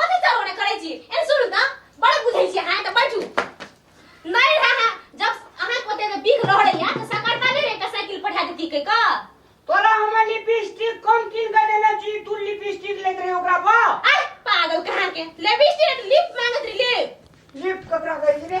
कथी सब ओने करै छी एन सुनू त बड़ बुझै छी हां त बैठू नहीं रहा जब अहाँ को ते बिक रह रही है तो सकरता नहीं रहता साइकिल पठा देती के का तोरा हमर लिपस्टिक कम किन के देने छी तू लिपस्टिक लेत रहे ओकरा बा अरे पागल कहाँ के ले बिस्टी लिप मांगत रही लिप लिप ककरा कहै छी रे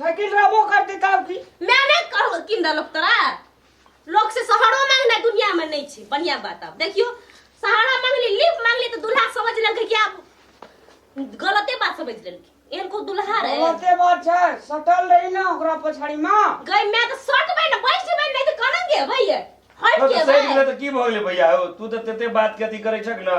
साइकिल रहबो करते तब की मैं नहीं कहो किन दलक तोरा लोग से सहारो मांगना दुनिया में नहीं छे बढ़िया बात अब देखियो सहारा मांगली लिफ्ट मांगली तो दूल्हा समझ लेलके कि आप गलते बात समझ लेलके एहन को दूल्हा रहे बहुते बात छै सटल रही ना ओकरा पछाड़ी मां गई मैं तो सट बे ना बैठ बे नहीं तो करन के भैया हट तो के सही गेलै बे तऽ की भऽ गेलै भैया हो तू तऽ तते बात के अथी करै छक ने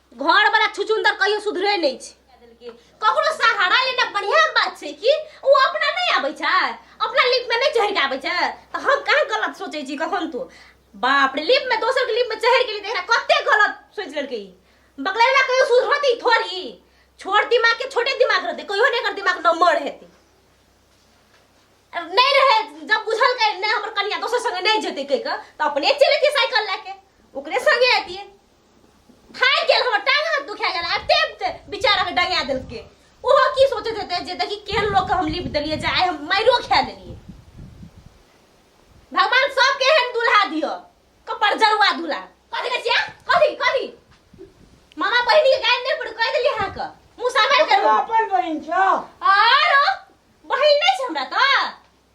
घर वाला छुचुंदर कहियो सुधरे नहीं छै ककरो सहारा लेना बढ़िया बात छै कि ओ अपना नहीं आबै छै अपना लिप में नहीं चढ़ के आबै छै त हम कहाँ गलत सोचे छी कखन तो बाप रे लिप में दोसर के लिप में चढ़ के लिए देखना कते गलत सोच लेलकै बकलेला कहियो सुधरती थोड़ी छोट दिमाग के छोटे दिमाग रहते कहियो नहीं कर दिमाग नंबर हेती नहीं रहे जब बुझल के नहीं हमर कनिया दोसर संगे नहीं जेते कह के त अपने चले साइकिल लेके ओकरे संगे आती थाक गेल हमर टांग हाथ दुखा गेल आ टेप ते बेचारा के डंगा देल के ओहो की सोचत हेते जे देखी केहन लोग के हम लिप देलिए जे आइ हम माइरो खा लेलिए भगवान सबके एहन दुल्हा दियो कपर जरुआ दुल्हा कथी कहै छियै कथी कथी मामा बहिनी के गाय नहि पड़ कह देलिए अहाँ के मुंह सामर ओकरा करू अपन बहिन छौ आरो बहिन नहि छै हमरा तऽ